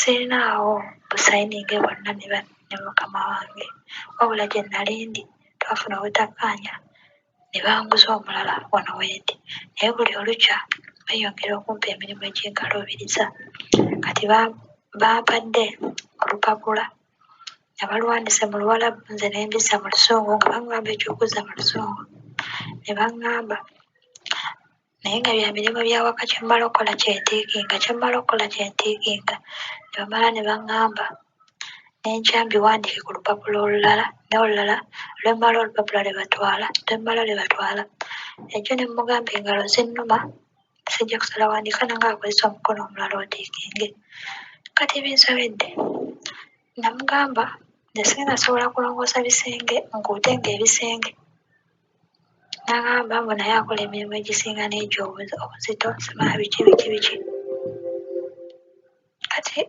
Sirina awo busayining'e bwonna ne mukama wange, wabula gye nnali ndi twafuna obutakkaanya ne banguza omulala wano wendi, naye buli olukya beeyongera okumpa emirimu egy'enkaluubiriza. Kati bampadde olupapula nga baluwandiise mu Luwalabu nze ne mbizza mu Luzungu nga baŋŋamba eky'okuzza mu Luzungu ne baŋŋamba naye nga bya mirimu bya waka kye mmala okukola kye ntiikinga kye mmala okukola kye ntiikinga ne bamala ne baŋŋamba ne nkyambiwandiike ku lupapula olulala n'olulala lwe mmala olupapula lwe batwala lwe mmala lwe batwala ekyo ne mmugamba engalo zinnuma sijja kusala wandiika nanga akozesa omukono omulala otiikinge kati binsobedde namugamba ne sinasobola kulongoosa bisenge nkuutenga ebisenge N'agamba mbu naye akola emirimu egisinga n'egyo obuzi- obuzito simala biki biki biki kati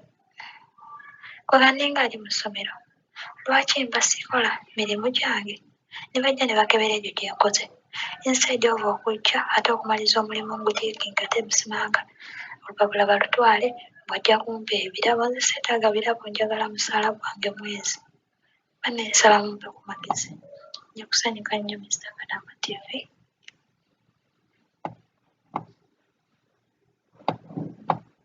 kwega ninga ali mu ssomero lwaki mba sikola mirimu gyange ne bajja ne bakebera egyo gye nkoze instead of okujja ate okumaliza omulimu nguteekinga ate musimanga olupapula balutwale bw'ajja kumpa ebirabo nze seetaaga birabo njagala musaala gwange mwezi. Banne nsaba mumpe ku magezi. Nja kusanyuka nnyo Mister Kadama TV.